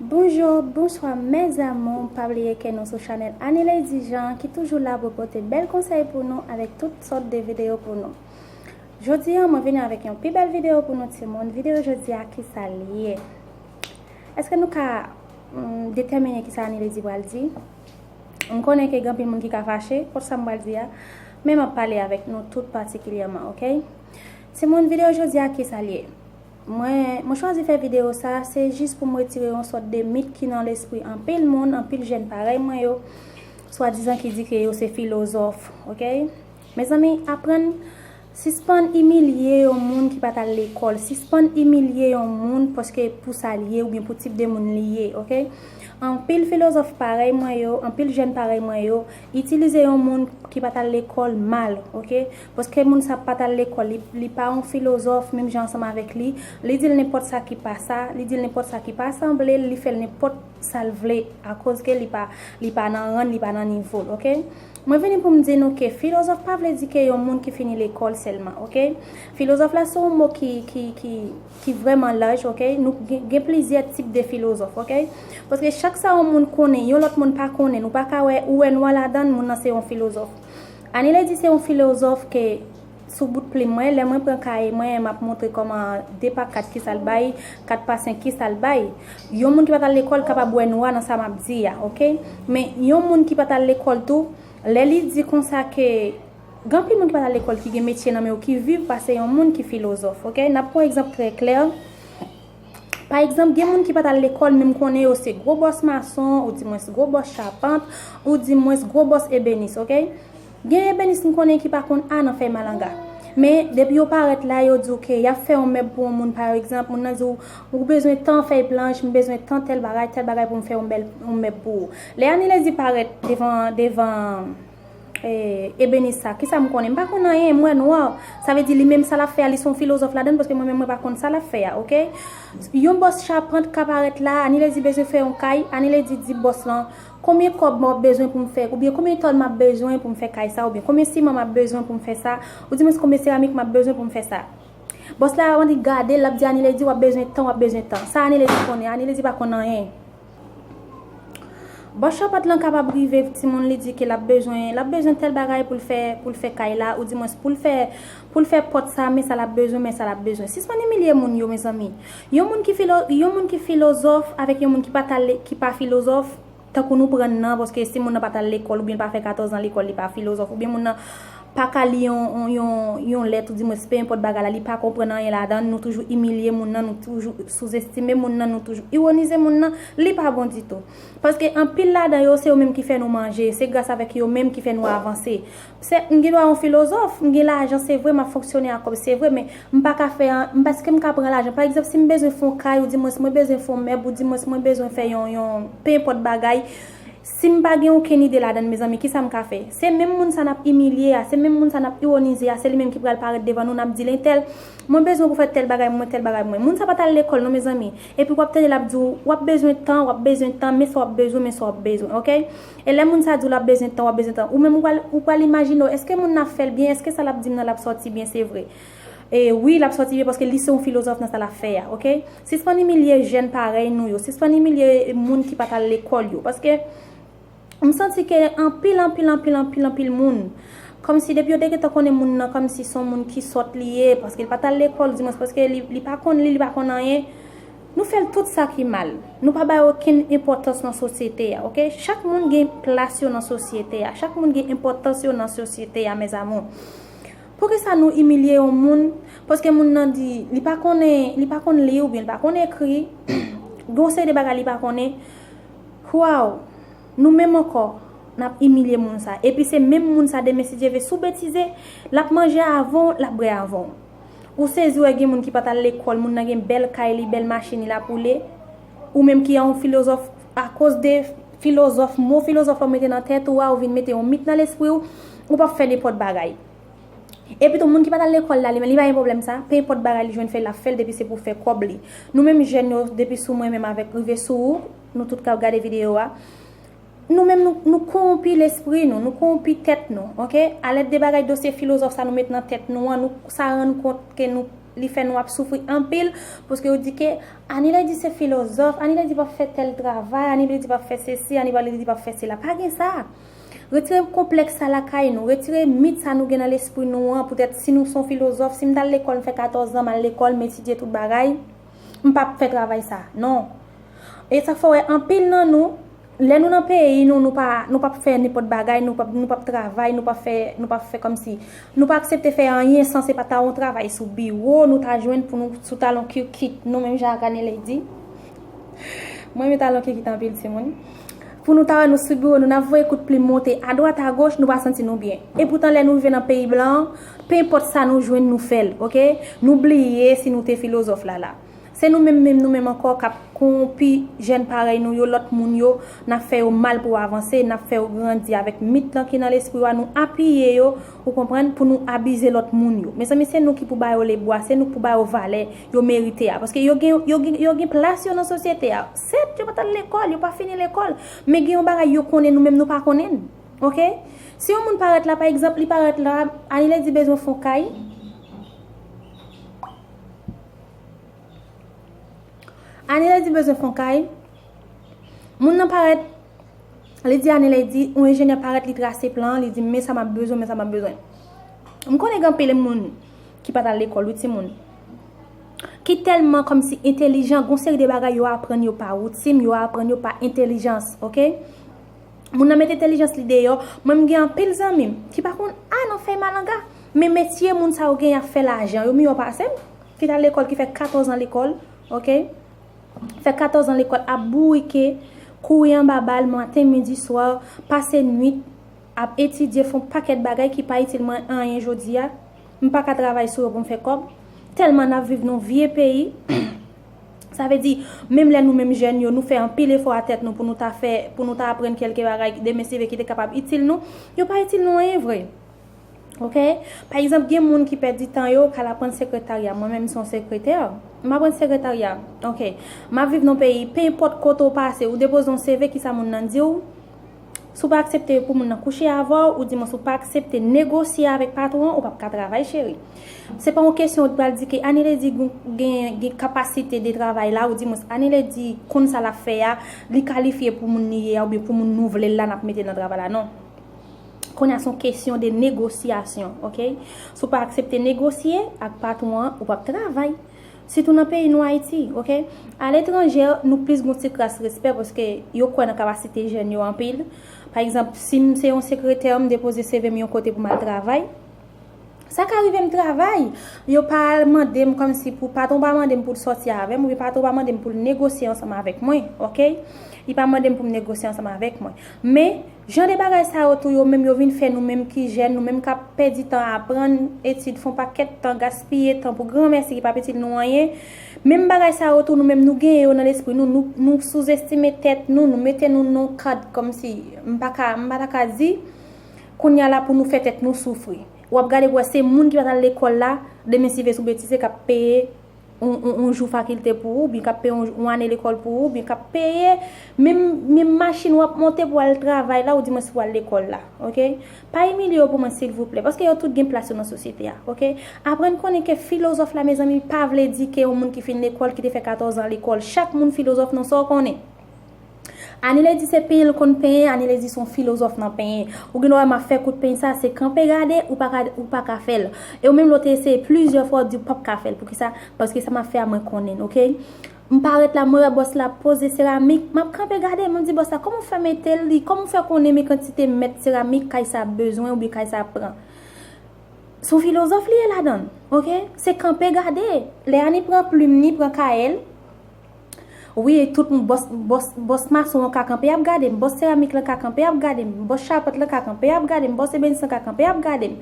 Bonjour, bonswa mes amours pa bliye ke nou sou chanel Annie Lady Jean ki toujou la pou pote bèl konsèy pou nou avèk tout sòt de videyo pou nou Jodi an mwen vini avèk yon pi bèl videyo pou nou timoun Videyo jodi a kisa l ye? Eske nou ka detèmine kisa Annie Lady pral di? M konnen ke gen anpil moun ki ka fache kont sa m pral di a, men m ap pale avèk nou tout patikilyèman ok. Timoun video jodi a kisa l ye? Mwen Mwen chwazi fè video sa se jis pou m retire yon sòt de mit ki nan lespri anpil moun, anpil jèn parèy mwen yo, swadizan ki di ke yo se filozòf ok. Mezanmi aprann. Sispann imilye yon moun ki pat al lekòl, sispann imilye yon moun paske pou sa l ye oubyen pou tip de moun li ye ok. Anpil filozòf parèy mwen yo, anpil jèn parèy mwen yo itilize yon moun ki pat al lekòl mal ok. Paske moun sa pat al lekòl, li pa yon filozòf menm jan ansanm avèk li, li di l nenpòt sa ki pa sa, li di l nenpòt sa ki pa sanble l, li fè l nenpòt sa l vle akoz ke li pa nan ran l, li pa nan nivo l ok. Mwen vini pou m di nou ke filozòf pa vle di ke yon moun ki fini lekòl sèlman, ok. Filozòf la se yon mo ki, ki, ki, ki vrèman laj, ok. Nou gen, gen plizyè tip de filozòf, ok. Paske chak sa yon moun konnen, yon lòt moun pa konnen. Nou pa ka wè, ou wè nwa ladan l, moun nan se yon filozòf. Anilè di se yon filozòf ke. Sou bout plim mwen, lè mwen pran kaye mwen, m ap montre kòman 2 pa 4 kisa l bay, 4 pa 5 kisa l bay. Yon moun ki pa t al lekòl kapab wè nwa nan sa m ap di a, ok. Men, yon moun ki pa t al lekòl tou, lè li di konsa ke gen anpil moun ki pa t al lekòl ki gen metye nan men yo ki viv pase yon moun ki filozòf, ok. N ap pran egzanp trè klè. Pa egzanp, gen moun ki pa t al lekòl men m konnen yo se gwo bòs mason, ou di mwens gwo bòs chapant, ou di mwens gwo bòs ebenis, ok? Gen ebenis m konnen ki pa konn A nan fèy malanga. Men, depi yo parèt la, yo di w ke y ap fè yon mèb pou yon moun pa egzanp, moun nan di w, ou bezwen tan fèy planch, m bezwen tan tèl bagay, tèl bagay pou m fè yon mèb pou ou. Lè Anilezi parèt devan, devan. Eh, Ebenesa, kisa m konnen? M pa konn anyen, m wè nwa. Sa vle di li menm sa l ap fè a, li s on filozòf ladann paske mwen menm mwen pa konn sa l ap fè a, ok? Yon bòs chapant ka parèt la, Anilè di bezwen fè yon kay, Anilè di di bòs lan, Konbyen kòb m ap bezwen pou m fè, oubyen konbyen tòn m ap bezwen pou m fè kay sa, oubyen konbyen siman m ap bezwen pou m fè sa, oudimwens konbyen seramik m ap bezwen pou m fè sa. Bòs la, anvan li gade l, l ap di Anilè di w ap bezwen tan, w ap bezwen tan. Sa Anilè di konnen? Anilè di pa konn anyen. Bòs chapat lan kapab rive timoun li di ke l ap bezwen, l ap bezwen tèl bagay pou l fè, pou l fè kay la, ou dimwens pou l fè, pou l fè pòt sa, men sa l ap bezwen, men sa l ap bezwen. Sispann imilye moun yo mezanmi. Yon moun ki filo, yon moun ki filozòf avèk yon moun ki pa ta le, ki pa filozòf, tankou nou pran nan, paske si moun nan pa t al lekòl oubyen l pa fè katòzan lekòl li pa filozòf oubyen moun nan. pa ka li yon lèt ou di mwens pe enpòt bagay la li pa konprann anyen ladan nou toujou imilye moun nan nou toujou souzestime moun nan nou toujou iwonize moun nan li pa bon ditou paske anpil ladan yo se yo menm ki fè nou manje se gras avèk yo menm ki fè nou avanse se m gen dwa yon filozòf m gen lajan se vre m ap fonksyone ak kòb se vre men m pa ka fè an m èske m ka pran lajan pa egzanp si m bezwen fon kay ou di mwens mwen bezwen fon mèb ou di mwens mwen bezwen fè yon yon pe enpòt bagay. Si m pa gen okenn ide ladann mezanmi kisa m ka fè? Se menm moun sa n ap imilye a, se menm moun sa n ap iwonize a, se li menm ki pral parèt devan nou, n ap di l entèl, mwen bezwen pou fè tèl bagay mwen, tèl bagay mwen. Moun sa pa t al lekòl non mezanmi. Epi w ap tande l ap di w, w ap bezwen tan, w ap bezwen tan, men sa w ap bezwen, men sa w ap bezwen. Ok? E lè moun sa di w l ap bezwen tan, w ap bezwen tan, ou menm ou pral imajine w, èske moun nan ap fè l byen, èske sa l ap di m nan l ap sòti byen se vre? E wi lap sòti byen paske li se yon filozòf nan sa lap fè a ok. Sispann imilye jèn parèy nou yo, sispann imilye moun ki pat al lekòl yo paske m santi ke anpil anpil anpil anpil anpil moun kòmsi depi yo te gentan konnen moun nan kòmsi son moun ki sòt li ye paske l pat al lekòl dimwens paske li pa konn li li pa konn anyen nou fè l tout sa ki mal nou pa bay okenn enpòtans nan sosyete a ok chak moun gen plas yo nan sosyete a chak moun gen enpòtans yo nan sosyete a mes amour. Poukisa nou imilye yon moun paske moun nan di li pa konnen li pa konn li oubyen li pa konn ekri gen yon seri de bagay li pa konnen waww nou menm ankò nap imilye moun sa epi se menm moun sa demen si Dye ve si w betize lap manje avan w lap bwè avan w ou sezi wè gen moun ki pat al lekòl moun nan gen bèl kay li bèl machin li lap woule ou menm ki yon filozòf Akoz de filozòf, mo filozòf lan ou mete nan tèt ou a, ou vin mete yon mit nan lespri ou, ou pa p fè nenpòt bagay. Epitou moun ki pa t al lekòl la, li menm, li pa gen pwoblèm sa. Penenpòt bagay li jwenn fè, l ap fè l depi se pou fè kòb li. Nou menm jèn yo, depi sou mwen menm avèk rive sou ou, nou tout k ap gade videyo a, nou menm nou, nou kowonpi lespri nou, nou kowonpi tèt nou, oke, alèd de bagay dosye filozòf sa nou met nan tèt nou an, nou, sa rann kont ke nou. Li fè nou ap soufri anpil, pouske yo di ke Anilè di se filozòf, Anilè di pap fè tèl travay, Anilè di pap fè sesi, Anilè di pap fè sela. Pa gen sa! Retire konplèks sa lakay nou, retire mit sa nou gen nan lespri nou an, poutèt si nou son filozòf, si m tal lekòl, m fè 14 zan, m al lekòl, m etidye tout bagay, m pap fè travay sa. Non! E sak fè w wè anpil nan nou, Lè nou nan peyi nou, nou pa nou pap fè nenpòt bagay, nou pap nou pap travay, nou pap fè nou pap fè kòmsi nou pa aksepte fè anyen san se pa ta yon travay sou biwo nou ta jwenn pou nou sou talon kirkit nou menm jan ak Aneley di. Mwen renmen talon kirkit anpil timoun. Pou nou ta wè nou sou biwo nou, n ap voye kout plim monte adwat agoch, nou pa santi nou byen. Epoutan lè nou rive nan peyi blan, penpòt sa nou jwenn nou fè l, ok. Nou bliye si nou te filozòf lala. Se nou menm menm nou menm ankò k ap kowonpi jèn parèy nou yo, lòt moun yo, n ap fè yo mal pou avanse, n ap fè yo grandi avèk mit lan ki nan lespri ou a, nou apiye yo, ou konprann, pou nou abize lòt moun yo. Mezanmi se nou ki pou ba yo lebwa, se nou k pou ba yo valè yo merite a, paske yo gen yo gen yo gen plas yo nan sosyete a, sèt yo pa t al lekòl, yo pa fini lekòl, men gen yon bagay yo konnen nou menm nou pa konnen l ok. Si yon moun parèt la pa egzanp li parèt la Aniledi bezwen fon kay, Ane lady bezwen fon kay Moun nan parèt Li di ane lady Yon enjenyè parèt li trase plan Li di men sa map bezwen men sa map bezwen M konnen gen anpil moun Ki pat al lekòl wi timoun Ki tèlman kòmsi entelijan Gon seri de bagay yo aprann yo pa woutim Yo aprann yo pa entelijans ok Moun nan met entelijans li deyò Mwen m gen anpil zanmi m Ki pa konn a nan fèy malanga Men metye moun sa yo gen yap fè lajan Yo miyò pase m Ki tal lekòl ki fè 14 an lekòl ok fè 14 an lekòl ap bourike kouri anba bal maten midi swa pase nwit ap etidye fon pakèt bagay ki pa itil mwen anyen jodi a m pa ka travay sou yo pou m fè kòb tèlman n ap viv nou vye peyi sa vle di menm lè nou menm jèn yo nou fè anpil efò a tèt nou pou nou ta fè pou nou ta aprann kèlke bagay demen si vre ki te kapab itil nou yo pa itil nou anyen vre. Ok pa egzanp gen moun ki pèdi tan yo kal aprann sekretarya mwen menm son sekretè m aprann sekretarya ok m ap viv nan peyi pe enpòt kote ou pase ou depoze yon CV kisa moun nan diw si w pa aksepte pou moun nan kouche avèw ou di mwen si w pa aksepte negosye avèk patwon an ou pap ka travay cheri se pa yon kesyon ou t pral di ke aniledi gen kapasite de travay la ou di mwen aniledi konn sa lap fè a li kalifye pou moun li ye a oubyen pou moun nou vle l la nap mete nan travay la non. Konya son kesyon de negosyasyon ok si w pa aksepte negosye ak patwon an ou pap travay sitou nan peyi nou ayiti ok aletranje nou plis gon ti kras respè paske yo kwè nan kapasite jèn yo anpil pa egzanp si m se yon sekretè m depoze seve m yon kote pou m al travay sa ka rive m travay yo pa al mande m kòmsi pou patwon pa mande m pou l sòti avè m oubyen patwon pa mande m pou l negosye ansanm avèk mwen ok li pa mande m pou m negosye ansanm avèk mwen men Jan de bagay sa yo tou yo menm yo vin fè nou menm ki jèn, nou menm k ap pèdi tan aprann, etid, fon pakèt tan, gaspiye tan pou granmèsi ki p ap itil nou anyen, menm bagay sa yo tou nou menm nou genyen yo nan lespri nou, nou souzestime tèt nou, nou mete nou nan yon kad kòmsi m pa ka, m pa ta ka di, kounye a la pou nou fè tèt nou soufri. W ap gade pou w wè se moun ki pa t al lekòl la, demen si ve sou betise k ap peye. yon jou fakilte pou ou, oubyen k ap peye yon ane lekòl pou ou, oubyen k ap peye menm machin w ap monte pou al travay la, ou di mwens pou al lekòl la. Ok? Pa imilye yo pou mwen silvouplè, paske yo tout gen plas yo nan sosyete a. Ok? Aprann konnen ke filozòf la mezanmi pa vle di ke yon moun ki fin lekòl, ki te fè katòzan lekòl. Chak moun filozòf non sa w konnen. Anile di se penyen l konn penyen, Anile di son filozòf nan penyen. Ou gen dwa wè m ap fè kout peny sa, se kanpe gade, ou pa ka, ou pa ka fè l. E ou menm lè w te eseye plizyè fwa, ou di ou p ap ka fè l. Poukisa? Paske sa m ap fè a mwen konnen l, ok. M parèt la, mwen wè bòs la ap poze seramik, m ap kanpe gade, mwen di bòs la, kòman w fè mete l, li, kòman w fè konnen men kantite mèt seramik kay sa ap bezwen oubyen kay sa ap pran. Son filozòf li ye ladan l, ok. Se kanpe gade. Lè Ani pran plim ni, pran kaye l. Wi tout m bòs bòs bòs mason an ka kanpe ap gade m bòs seramik lan ka kanpe ap gade m bòs chapant lan ka kanpe ap gade m bòs ebenis lan ka kanpe ap gade m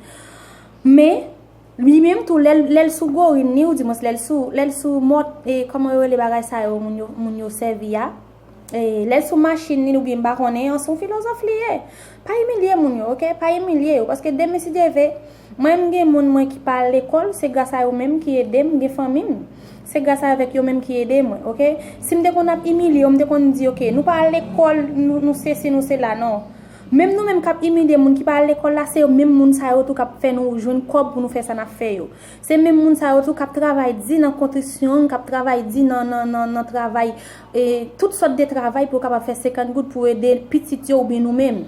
men li menm tou lèl lèl sou gorin li ou di mwens lèl sou lèl sou mòt e kòman yo rele bagay sa yo moun yo moun yo sèvi a e lèl sou machin li oubyen m pa konnen an son filozòf li ye Pa imilye moun yo ok pa imilye yo paske demen si Dye ve mwen m gen moun mwen ki pa al lekòl se gras a yo menm ki edem m gen fanmi m se gras a vek yo menm ki ede mwen ok sim te konn ap imilye yo m te konn di ok nou pa al lekòl nou sesi nou sela non menm nou menm kap imilye moun ki pa al lekòl la se yo menm moun sa yo tou kap fè nou jwenn kòb pou nou fè sa nap fè yo se menm moun sa yo tou kap travay di nan kontrisyon kap travay di nan nan nan travay tout sòt de travay pou yo kapab fè 50 goud pou ede pitit yo oubyen nou menm.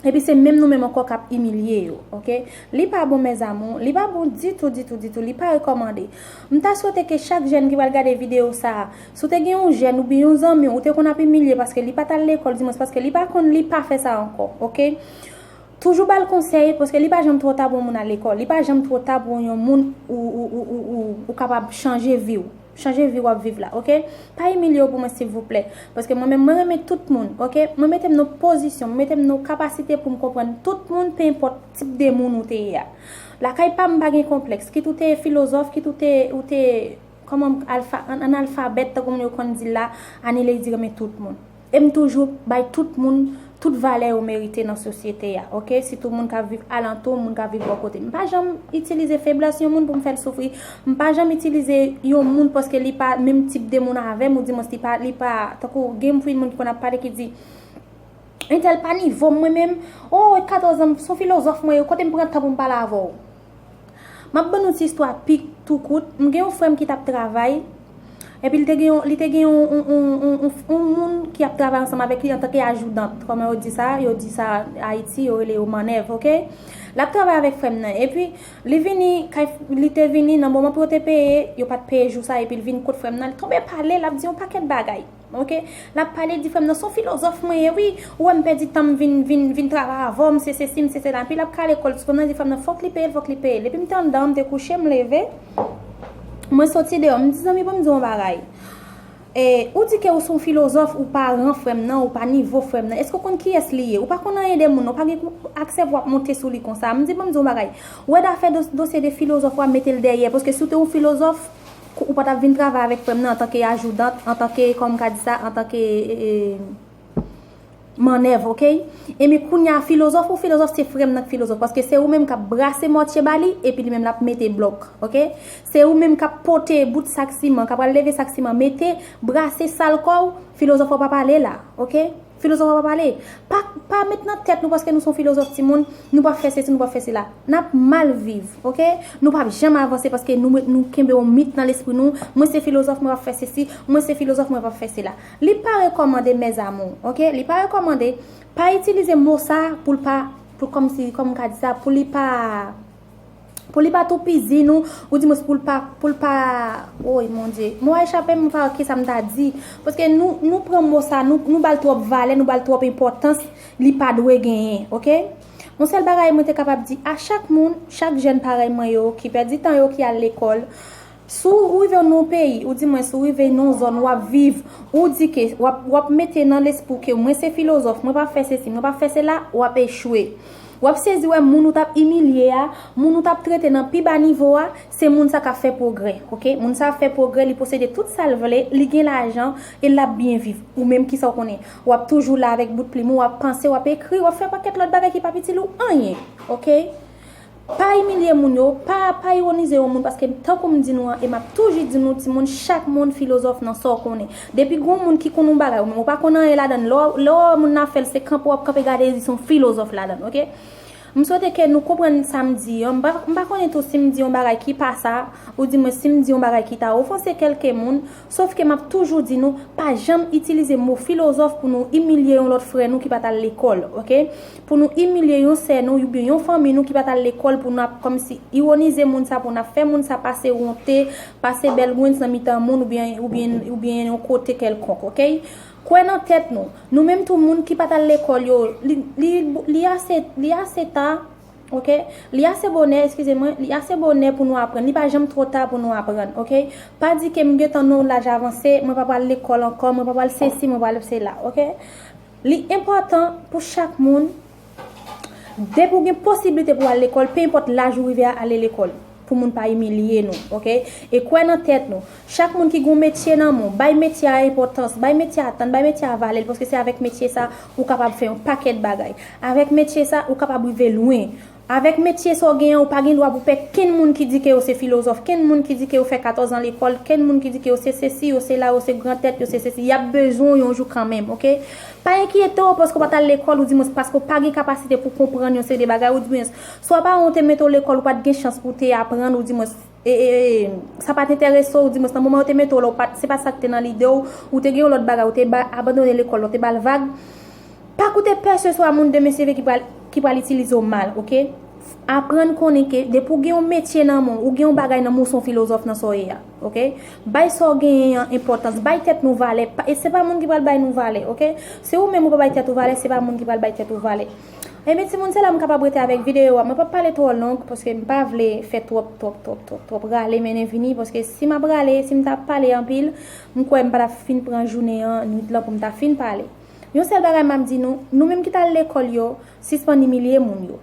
Epi se menm nou menm ankò k ap imilye yo. Ok. Li pa bon mes amour. Li pa bon ditou, ditou, ditou. Li pa rekòmande. M ta swete ke chak jèn ki pral gade videyo sa a, si w te gen yon jèn oubyen yon zanmi w ou te konn ap imilye paske li pa t al lekòl, dimwens paske li pa konn li, pa fè sa ankò. Ok. Toujou ba l konsèy paske li pa janm twò ta pou yon moun al lekòl. Li pa janm twò ta pou yon moun ou kapab chanje vi w. Chanje vi wap viv la ok. Pa imilye w pou mwen silvouplè. Paske mwen menm mwen renmen tout moun ok. Mwen mete m nan pozisyon, mwen mete m nan kapasite pou m konprann tout moun pe enpòt tip de moun ou te ye a. Lakay pa m m pa gen konplèks. Kit ou te filozòf, kit ou te ou te kòman m k alfa, analfabèt tankou moun yo konn di l la, Anilady renmen tout moun. E m toujou bay tout moun tout valè yo merite nan sosyete a ok, sitou moun k ap viv alantou m, moun k ap viv bò kote m. M pa janm itilize feblès yon moun pou m fè l soufri. M pa janm itilize yon moun paske li pa menm tip de moun avè m oudimwens li pa, li pa, tankou gen yon frèn moun ki konn ap pale ki di, Entèl pa nivo m mwen menm, oo 14 an m, s on filozòf mwen ye, kote m pran tan pou m pale avè w? Map ban nou ti istwa pi tou kout, m gen yon frè m ki tap travay, epi li te gen yon, li te gen yon, yon moun ki ap travay ansanm avèk li antanke ajoudant, kòman yo di sa, yo di sa Ayiti, yo rele yo mannèv, ok. Lap travay avèk frè m nan, epi li vini kay, li te vini nan moman pou yo te peye, yo pat peye jou sa, epi li vin kot frè m nan, li tonbe pale, lap di yon pakèt bagay. Ok lap pale di frèm nan son filozòf mwen ye wi ou wèm pèdi tanm vin vin vin travay avèw m se sesi m se sela epi lap kale kòl tifonm nan di frèm nan fòk li peyel fòk li peyel epim te andan m te kouche m leve mwen soti deyò m di zanmi banm diw yon bagay ou di ke ou son filozòf ou pa ran frèm nan ou pa nivo frèm nan èske ou konn kiyès li ye ou pa konn anyen de moun nan ou pa gen aksè pou wap monte sou li konsa m di banm diw yon bagay wè dafè dosye de filozòf wa metel dèyè paske si ou te yon filozòf Ou pa tap vin travay avèk frè m nan antanke ajoudant, antanke kòman m ka di sa, antanke mannèv ok. Enben kounye a filozòf ou filozòf se frè m nan k filozòf paske se ou menm k ap brase mòtye ba li epi li menm l ap mete blòk ok. Se ou menm k ap pote bout sak siman, k ap al leve sak siman mete, brase sal kò ou, filozòf ou pa pale la ok. Filozòf ap ap pale. Pa pa met nan tèt nou paske nou son filozòf timoun, nou pap fè sesi, nou pap fè sela. Nap mal viv ok. Nou pap janm avanse paske nou met nou kenbe yon mit nan lespri nou, mwen se filozòf mwen pap fè sesi, mwen se filozòf mwen pap fè sela. Li pa rekòmande mes amours ok, li pa rekòmande, pa itilize mo sa pou l pa pou kòm si kòm m ka di sa pou li pa. Pou li pa toupizi nou, ou di mwens pou l pa, pou l pa, woy mon Dye, mo a echape m, m pa wè ki sa m ta di, paske nou, nou pran mo sa, nou ba l twòp valè, nou ba l twòp enpòtans, li pa dwe genyen, ok? Yon sèl bagay mwen te kapab di a chak moun, chak jèn parèy mwen yo, ki pèdi tan yo, ki al lekòl, Si w rive nan yon peyi, ou di mwen si w rive nan yon zòn wap viv, ou di ke wap mete nan lespri w ke mwen se filozòf, mwen pap fè sesi, mwen pap fè sela, wap echwe. Wap sezi wè moun ou tap imilye a, moun ou tap trete nan pi ba nivo a, se moun sa kap fè pwogrè. Ok, moun sa ap fè pwogrè, li posede tout sa l vle, li gen lajan, e lap byen viv. Ou menm kisa w konnen? Wap toujou la avèk bout plim ou, wap panse, wap ekri, wap fè yon pakèt lòt bagay ki pap itil ou anyen. Ok. Pa imilye moun yo, pa pa ironize yon moun paske tankou m di nou an e map toujou di nou timoun chak moun filozòf nan sa w konnen. Depi gon moun ki konn yon bagay ou menm ou pa konn anyen ladann lè w lè w wè moun nan ap fè l se kanpe w ap kanpe gade l di se yon filozòf ladann ok. M swete ke nou konprann sa m di an m pa m pa konnen tou si m di yon bagay ki pa sa ou di mwen si m di yon bagay ki ta ofanse kelke moun Sof ke map toujou di nou, pa janm itilize mo filozòf pou nou imilye yon lòt frè nou ki pat al lekòl, ok. Pou nou imilye yon sè nou oubyen yon fanmi nou ki pat al lekòl pou nap kòmsi ironize moun sa pou nap fè moun sa pase ronte, pase bèlgwens nan mitan moun oubyen oubyen yon kote kèlkonk, ok. Kwè nan tèt nou. Nou menm tou moun ki pat al lekòl yo, li li ase li ase ta. Ok Li ase bonè eskize mwen Li ase bonè pou nou aprann Li pa janm twò ta pou nou aprann ok Pa di ke m gentan nan yon laj avanse Mwen pa pral lekòl ankò Mwen pa pral sesi Mwen pa pral sela ok Li enpòtan pou chak moun Depi w gen posiblite pou w al lekòl Pe enpòt laj ou rive a ale lekòl Pou moun pa imilye nou ok. E kwè nan tèt nou. Chak moun ki gen yon metye nan men w, bay metye a enpòtans, bay metye a tan, bay metye a valè l paske se avèk metye sa ou kapab fè yon pakèt bagay. Avèk metye sa ou kapab rive lwen. Avèk metye sa w gen an ou pa gen dwa pou pè kenn moun ki di ke yo se filozòf, kenn moun ki di ke yo fè 14 an lekòl, kenn moun ki di ke yo se sesi, yo sela, yo se gran tèt, yo se sesi. Y ap bezwen w yon jou kanmenm ok. Pa enkyete w paske w pa t al lekòl oudimwens paske w pa gen kapasite pou w konprann yon seri de bagay oudimwens Swa paran w te mete w lekòl ou pa t gen chans pou w te aprann ou di mwens sa pa t enterese w di mwens nan moman yo te mete w la se pa sa k te nan lide w ou te gen yon lòt bagay ou te abandone lekòl la ou te ba l vag pa koute peseswa moun demen seve ki pral itilize w mal ok aprann konnen ke depi w gen yon metye nan men w ou gen yon bagay nan men w ou se yon filozòf nan sa w ye a ok bay sa w genyen an enpòtans bay tèt nou valè se pa moun ki pral bay nou valè ok si ou menm ou pa bay tèt ou valè se pa moun ki pral bay tèt ou valè. Enben timoun se la m kapab rete avèk videyo a. Mwen pap pale twò long paske m pa vle fè twòp twòp twòp twòp twòp rale mennen vini paske si m ap rale, si m ta pale anpil, m kwè m pa ta fin pran jounen an, nwit lan pou m ta fin pale. Yon sèl bagay m ap di nou, nou menm ki t al lekòl yo, sispann imilye moun yo.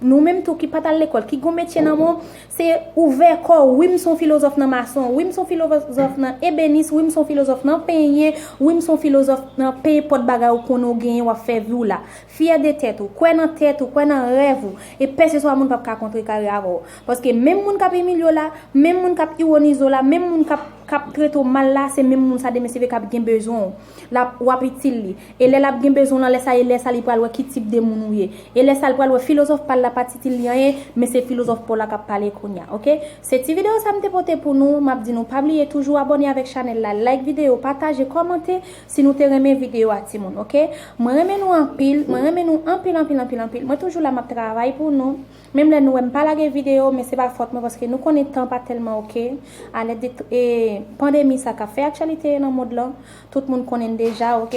Nou menm tou ki pa t al lekòl, ki gen yon metye nan men w, Se ouvè kò w, wi m son filozòf nan mason, wi m son filozòf nan ebenis, wi m son filozòf nan penyen, wi m son filozòf nan pe enpòt bagay ou konnen ou genyen w ap fè vi w la. Fyè de tèt ou, kwè nan tèt ou, kwè nan rèv ou, e peseswa moun p ap ka kontrekare avè w. Paske menm moun k ap imilye w la, menm moun k ap iwonize w la, menm moun k ap trete w mal la, se menm moun sa demen se vre k ap gen bezwen w. Lap, w ap itil li. E lè l ap gen bezwen w lan, lè sa e lè sa li pral wè ki tip de moun ou ye. E lè sa l pral wè filozòf pa l la pa t itil li anyen, men se filozòf pa w la k ap pale kounye a. Ok? Se ti videyo sa m te pote pou nou. M ap di nou pa bliye toujou abòne avèk chanèl la, like videyo, pataje, kòmante si nou te renmen videyo a timoun. Ok? Mwen renmen nou anpil. Mwen renmen nou anpil anpil anpil anpil. Mwen toujou la m ap travay pou nou. Menm lè nou wèm pa lage video men se pa fòt mwen paske nou konnen tan pa tèlman ok a lèd de pandemi sa kap fè aktyalite nan mond lan tout moun konnenn deja ok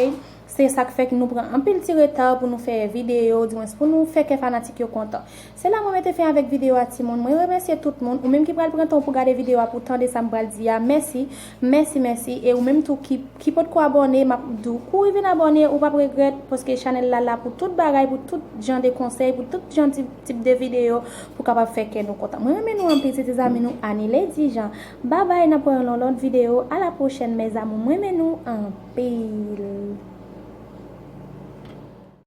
se sak fè nou pran anpil ti reta pou nou fè video di mwens pou nou fè kè fanatik yo kontan se la mwen mete fen avèk video a timoun mwen remèsye tout moun ou menm ki pral pran tan w pou gade video a pou tande sam pral di a mèsi Mèsi mèsi e ou menm tou ki potko abòne map diw kouri vin abòne ou pap regrèt paske chanèl la la pou tout bagay pou tout jan de konsèy pou tout jan tip de videyo pou kapab fè kè nou kontan mwen renmen nou anpil se te zanmi nou Anile Dijan babay nap wè yon nan lòt videyo a la pwochèn mes amour mwen renmen nou anpil.